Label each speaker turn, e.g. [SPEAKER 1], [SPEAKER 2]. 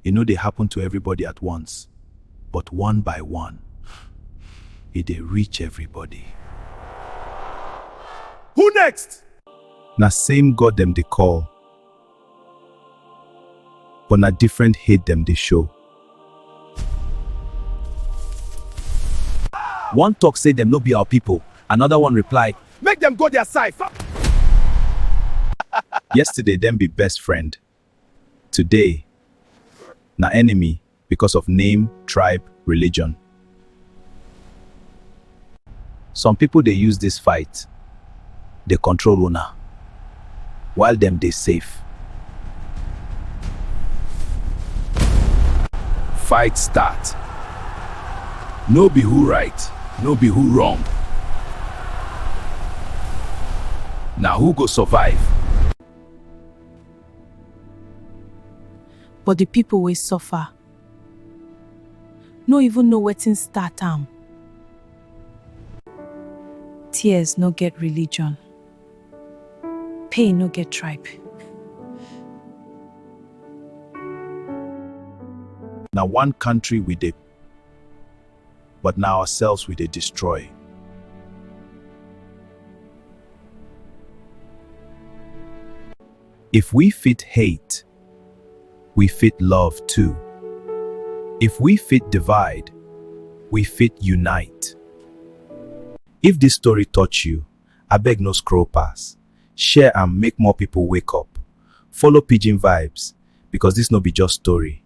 [SPEAKER 1] E no dey happen to everybody at once, but one by one, e dey reach everybody. Who next? Na same God dem dey call, but na different hate dem dey show. One talk say dem no be our people, another one reply, Make dem go their side! Yesterday dem be best friend, Today, na enemy because of name, tribe, religion. Some people dey use this fight dey control una while dem dey safe. Fight start. No be who right, no be who wrong. Na who go survive. But the people wey suffer no even know wetin start am. Tears no get religion, pain no get tribe. Na one country we dey but na ourselves we dey destroy. If we fit hate, we fit love too. If we fit divide, we fit unite. If this story touch you, abeg no scroll pass. Share am make more people wake up. Follow Pidgin Vibes because this no be just story,